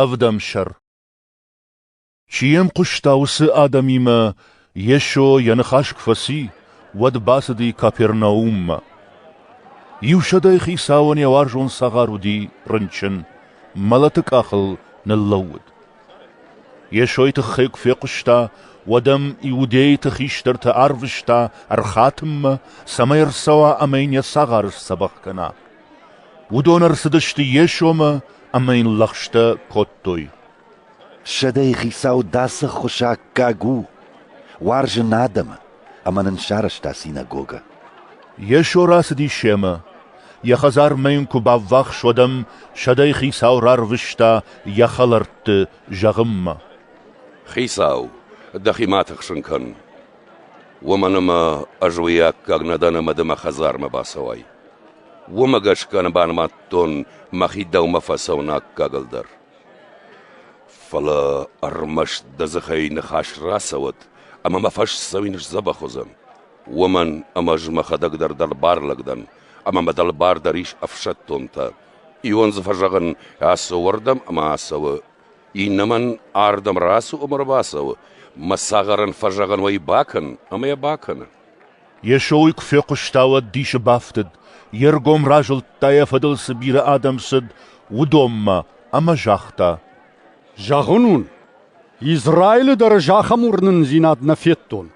Ӕвдӕмсӕр Чи йӕм хъуыста, уыцы адӕмимӕ Йесо йӕ ныхас куы фӕци, уӕд бацыди Капернауммӕ. Иу сӕдӕй хицауӕн йӕ уарзон цагъар уыди рынчын, мӕлӕты къахыл ныллӕууыд. Йесойы тыххӕй куы фехъуыста, уӕд ӕм иудейты хистӕртӕ арвыста ӕрхатынмӕ, цӕмӕй ӕрцӕуа ӕмӕ йын йӕ цагъар сдзӕбӕх кӕна. Уыдон ӕрцыдысты Йесомӕ ӕмӕ йын лӕгъстӕ кодтой. «Сӕдӕйы хицау дӕ цы ххуысаккаг у? Уарзы нӕ адӕмы ӕмӕ нын сарӕзта синагогӕ». Йесо рацыдис семӕ. Йӕ хӕдзармӕ йын куы баввахс, уӕд ӕм сӕдӕйы хицау рарвыста йӕ хӕлӕртты зӕгъынмӕ. «Хицау, дӕхимӕ тыхсын кӕн, уымӕн ӕмӕ ӕз уый аккаг нӕ дӕн ӕмӕ ды мӕ хӕдзармӕ бацӕуай. Уымӕ гӕсгӕ ныбанымадтон мӕхи дӕумӕ фӕцӕуыны аккагыл дӕр. Фӕлӕ ӕрмӕст дӕ дзыхӕй ныхас рацӕуӕд, ӕмӕ мӕ фӕсдзӕуин сдзӕбӕх уыдзӕн, уымӕн ӕмӕ ӕз мӕхӕдӕг дӕр дӕлбарлӕг дӕн, ӕмӕ мӕ дӕлбар дӕр ис ӕфсӕддонтӕ. Иуӕн дзы фӕзӕгъын, ацӕуы уӕрдӕм ӕмӕ ацӕуы, иннӕмӕн ардӕм рацу ӕмӕ ӕрбацӕуы, мӕ цагъарӕн фӕзӕгъын уӕ бакӕн, ӕмӕ йӕ бакӕны. Йесойы куы фехъуыста, уӕд дисы бафтыд, йе ргом разылдта, йӕ фӕдыл цы бирӕ адӕм цыд, уыдонмӕ, ӕмӕ загъта: «Зӕгъын уын, Израилы дӕр ӕз ахӕм уырнындзинад нӕ федтон».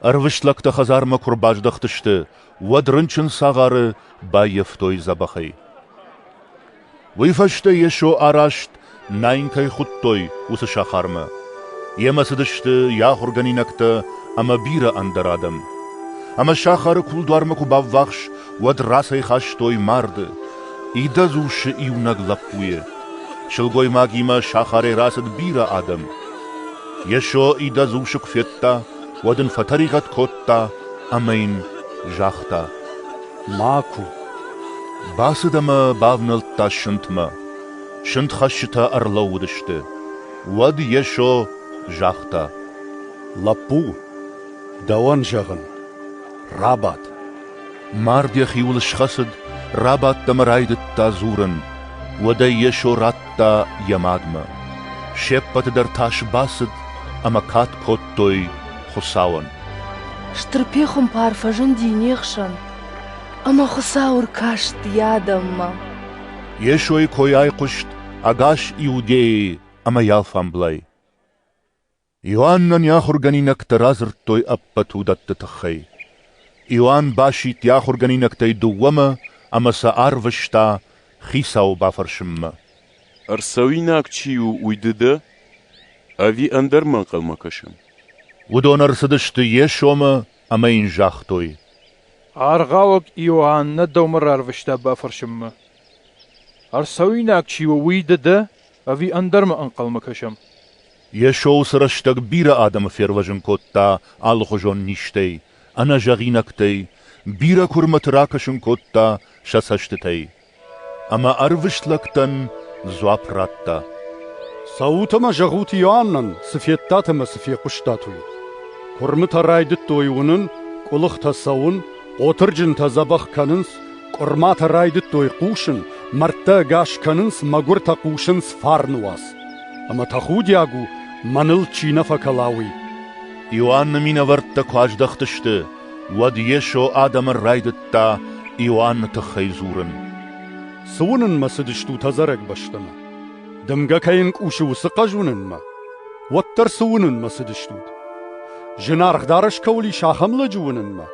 Ӕрвыст лӕгтӕ хӕдзармӕ куы рбаздӕхтысты, уӕд рынчын цагъары баййӕфтой дзӕбӕхӕй. Уый фӕстӕ Йесо араст, Наин кӕй хуыдтой, уыцы сахармӕ. Йемӕ цыдысты йӕ ахуыргӕнинӕгтӕ ӕмӕ бирӕ ӕндӕр адӕм. Ӕмӕ сахары кулдуармӕ куы баввахс, уӕд рацӕйхастой марды, идӕдз усы иунӕг лӕппуйы. Сылгоймагимӕ сахарӕй рацыд бирӕ адӕм. Йесо идӕдз усы куы федта, уӕд Ын фӕтӕригъӕд кодта ӕмӕ Йын загъта: Макуы. Бацыд ӕмӕ бавнӕлдта сынтмӕ. Сынтхӕссджытӕ ӕрлӕууыдысты. Уӕд Йесо загъта: «Лӕппу, дӕуӕн зӕгъын: рабад!» Мард йӕхиуыл схӕцыд, рабадт ӕмӕ райдыдта дзурын. Уӕдӕй Йесо радта йӕ мадмӕ. Се ппӕты дӕр тас бацыд ӕмӕ кад кодтой Хуыцауӕн. Стыр пехуымпар фӕзынди не хсӕн, ӕмӕ Хуыцау ӕркаст йӕ адӕммӕ. Йесойы кой айхъуыст ӕгас Иудӕйы ӕмӕ йӕ алфамблай. Иоаннӕн йӕ ахуыргӕнинӕгтӕ радзырдтой ӕппӕт уыдӕтты тыххӕй. Иоанн басидт йӕ ахуыргӕнинӕгтӕй дыууӕмӕ ӕмӕ сӕ арвыста Хицауы бафӕрсынмӕ. Ӕрцӕуинаг чи у, уый ды дӕ? Ӕви ӕндӕр мӕ ӕнхъӕлмӕ кӕсӕм? Уыдон ӕрцыдысты Йесомӕ ӕмӕ йын загътой: Аргъауӕг Иоаннӕ дӕумӕ рарвыста бафӕрсынмӕ. Ӕрцӕуинаг чи у, уый ды дӕ, ӕви ӕндӕрмӕ ӕнхъӕлмӕ кӕсӕм? Йесо уыцы рӕстӕг бирӕ адӕмы фервӕзын кодта алыхуызон низтӕй, ӕнӕзӕгъинӕгтӕй, бирӕ куырмӕты ракӕсын кодта сӕ цӕстытӕй. Ӕмӕ ӕрвыст лӕгтӕн дзуапп радта. «Цӕут ӕмӕ зӕгъут Иоаннӕн, цы федтат ӕмӕ цы фехъуыстат, уый. Куырмытӕ райдыдтой уынын, къуылыхтӕ цӕуын, хъотырджынтӕ дзӕбӕх кӕнынц, къуырматӕ райдыдтой хъусын, мӕрдтӕ ӕгас кӕнынц, мӕгуыртӕ хъусынц фарны уац. Ӕмӕ тӕхудиаг у, мӕныл чи нӕ фӕкӕла, уый!» Иоанны минӕвӕрттӕ куы аздӕхтысты, Уӕд Йесо адӕмӕн райдыдта Иоанны тыххӕй дзурын. «Цы уынынмӕ цыдыстут ӕдзӕрӕг бӕстӕмӕ? Дымгӕ кӕй ӕнкъусы, уыцы хъӕз уынынмӕ? Уӕддӕр цы уынынмӕ цыдыстут? Зынаргъ дарӕс кӕуыл ис, ахӕм лӕджы уынынмӕ?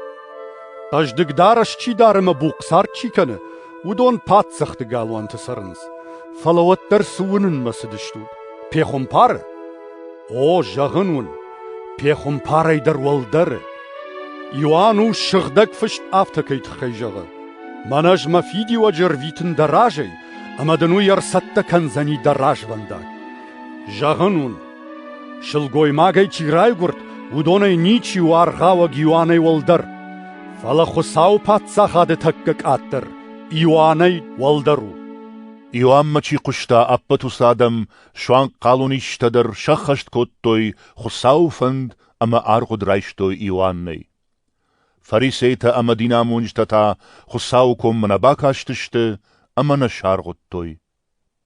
Хъӕздыг дарӕс чи дары ӕмӕ бухъцард чи кӕны, уыдон паддзӕхты галуанты цӕрынц. Фӕлӕ уӕддӕр цы уынынмӕ цыдыстут? Пехуымпары? О, зӕгъын уын, Пехуымпарӕй дӕр уӕлдӕры. Иоанн у, сыгъдӕг фыст афтӕкӕй тыххӕй зӕгъы: Мӕн ӕз мӕ фидиуӕджы ӕрвитын дӕ разӕй, ӕмӕ дын уый ӕрцӕттӕ кӕндзӕни дӕ развӕндаг. Зӕгъын уын, сылгоймагӕй чи райгуырд, уыдонӕй ничи у аргъауӕг Иоаннӕй уӕлдӕр, фӕлӕ Хуыцауы Паддзахады тӕккӕ къаддӕр Иоаннӕй уӕлдӕр у. Иоаннмӕ чи хъуыста, ӕппӕт уыцы адӕм суанг хъалонистӕ дӕр сӕххӕст кодтой Хуыцауы фӕнд ӕмӕ аргъуыд райстой Иоаннӕй. Фарисейтӕ ӕмӕ динамонджытӕ та Хуыцауы коммӕ нӕ бакастысты ӕмӕ нӕ саргъуыдтой.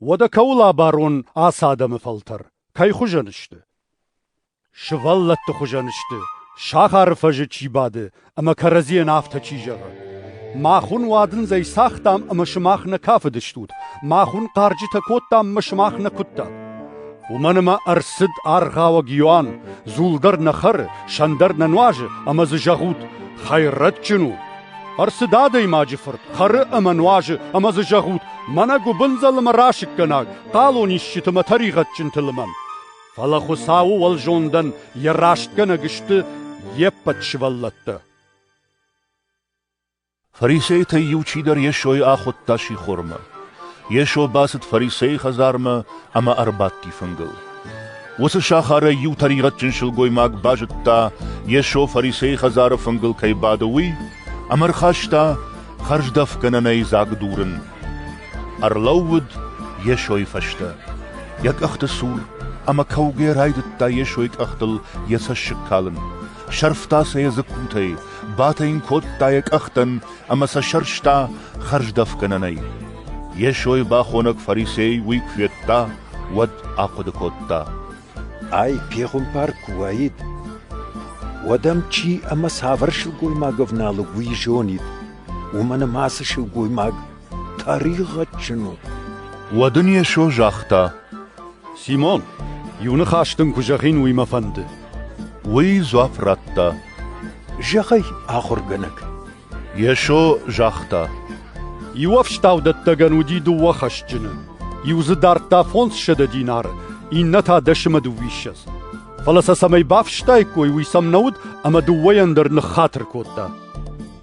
Уӕдӕ кӕуыл абарон ацы адӕмы фӕлтӕр? Кӕй хуызӕн сты? Сывӕллӕтты хуызӕн сты, сахары фӕзы чи бады ӕмӕ кӕрӕдзийӕн афтӕ чи зӕгъы: «Мах уын уадындзӕй цагътам ӕмӕ сымах нӕ кафыдыстут, мах уын хъарджытӕ кодтам ӕмӕ сымах нӕ куыдтат». Уымӕн ӕмӕ ӕрцыд аргъауӕг Иоанн: «Дзул дӕр нӕ хӕры, сӕн дӕр нӕ нуазы» ӕмӕ дзы зӕгъут: «Хӕйрӕджджын у!» Ӕрцыд Адӕймаджы Фырт: хӕры ӕмӕ нуазы ӕмӕ дзы зӕгъут: «Мӕнӕ гуыбындзыл ӕмӕ расыггӕнаг, хъалон исджыты ӕмӕ тӕригъӕдджынты лымӕн!» Фӕлӕ Хуыцауы уӕлзондӕн йӕ растгӕнӕг сты йе ппӕт сывӕллӕттӕ. Фарисейтӕй иу чидӕр Йесойы ахуыдта сихормӕ. Йесо бацыд фарисейы хӕдзармӕ ӕмӕ ӕрбадти фынгыл. Уыцы сахарӕй иу тӕригъӕдджын сылгоймаг базыдта, Йесо фарисейы хӕдзары фынгыл кӕй бады, уый, ӕмӕ ӕрхаста хӕрздӕфгӕнӕнӕй дзаг дурын. Ӕрлӕууыд Йесойы фӕстӕ, йӕ къӕхты цур, ӕмӕ кӕугӕ райдыдта Йесойы къӕхтыл йӕ цӕссыг калын. Сӕрфта сӕ йӕ дзыккутӕй, батӕ йын кодта йӕ къӕхтӕн ӕмӕ сӕ сӕрста хӕрздӕфгӕнӕнӕй. Йесойы бахонӕг фарисей уый куы федта, уӕд ахъуыды кодта: «Ай пехуымпар куы уаид, уӕд ӕм чи ӕмӕ цавӕр сылгоймаг ӕвналыг уый зонид, уымӕн ӕмӕ ацы сылгоймаг Тӕригъӕдджын у. Уӕд ын Йесо загъта: Симон, иу ныхас дын куы зӕгъин, уый мӕ фӕнды. Уый дзуапп радта: Зӕгъӕй, ахуыргӕнӕг. Йесо загъта: Иу ӕфстаудӕттӕгӕн уыди дыууӕ хӕсджыны. Иу дзы дардта фондзсӕдӕ динары, иннӕ та дӕсӕмӕ дыууиссӕдз. Фӕлӕ сӕ цӕмӕй бафыстаиккой, уый сӕм нӕ уыд, ӕмӕ дыууӕйӕн дӕр ныххатыр кодта.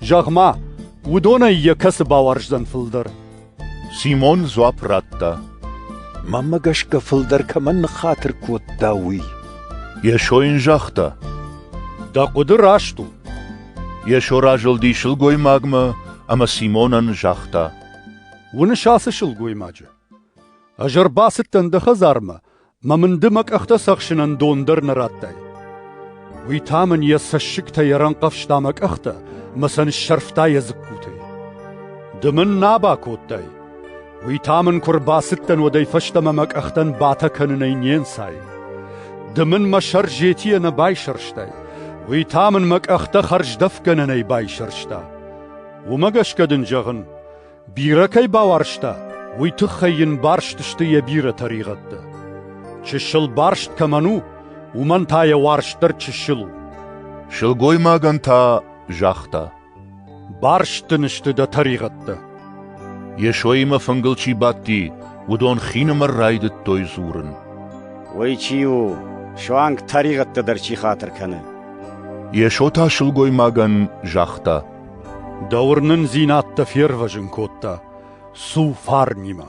Зӕгъ-ма, Уыдонӕй йӕ кӕцы бауарздзӕн фылдӕр? Симон дзуапп радта. Маммӕ гӕсгӕ фылдӕр кӕмӕн ныххатыр кодта, уый. Йесо йын загъта. Дӕ хъуыды раст у. Йесо разылди сылгоймагмӕ ӕмӕ Симонӕн загъта. Уыныс ацы сылгоймаджы? Ӕз ӕрбацыдтӕн дӕ хӕдзармӕ Мӕ мын ды мӕ къӕхтӕ цӕхсынӕн дон дӕр нӕ радтай. Уый та мын йӕ цӕссыгтӕй ӕрӕнхъӕвзта мӕ къӕхтӕ мӕ сӕ ныссӕрфта йӕ дзыккутӕй. Ды мын нӕ бакодтай, уый та мын куы рбацыдтӕн, уӕдӕй фӕстӕмӕ мӕ къӕхтӕн батӕ кӕнынӕй не нцай. Ды мын мӕ сӕр зетийӕ нӕ байсӕрстай, уый та мын мӕ къӕхтӕ хӕрздӕфгӕнӕнӕй байсӕрста. Уымӕ гӕсгӕ дын зӕгъын, Бирӕ кӕй бауарзта, уый тыххӕй йын барст сты йӕ бирӕ тӕригъӕдтӕ. Чысыл барст кӕмӕн у, уымӕн та йӕ уарзт дӕр чысыл у. Сылгоймагӕн та загъта: Барст дын сты дӕ тӕригъӕдтӕ. Йесоимӕ фынгыл чи бадти, уыдон хинымӕр райдыдтой дзурын. Уый чи у, суанг тӕригъӕдтӕ дӕр чи хатыр кӕны? Йесо та сылгоймагӕн загъта: Дӕ уырнындзинӕдтӕ фервӕзын кодта Су фарнимӕ.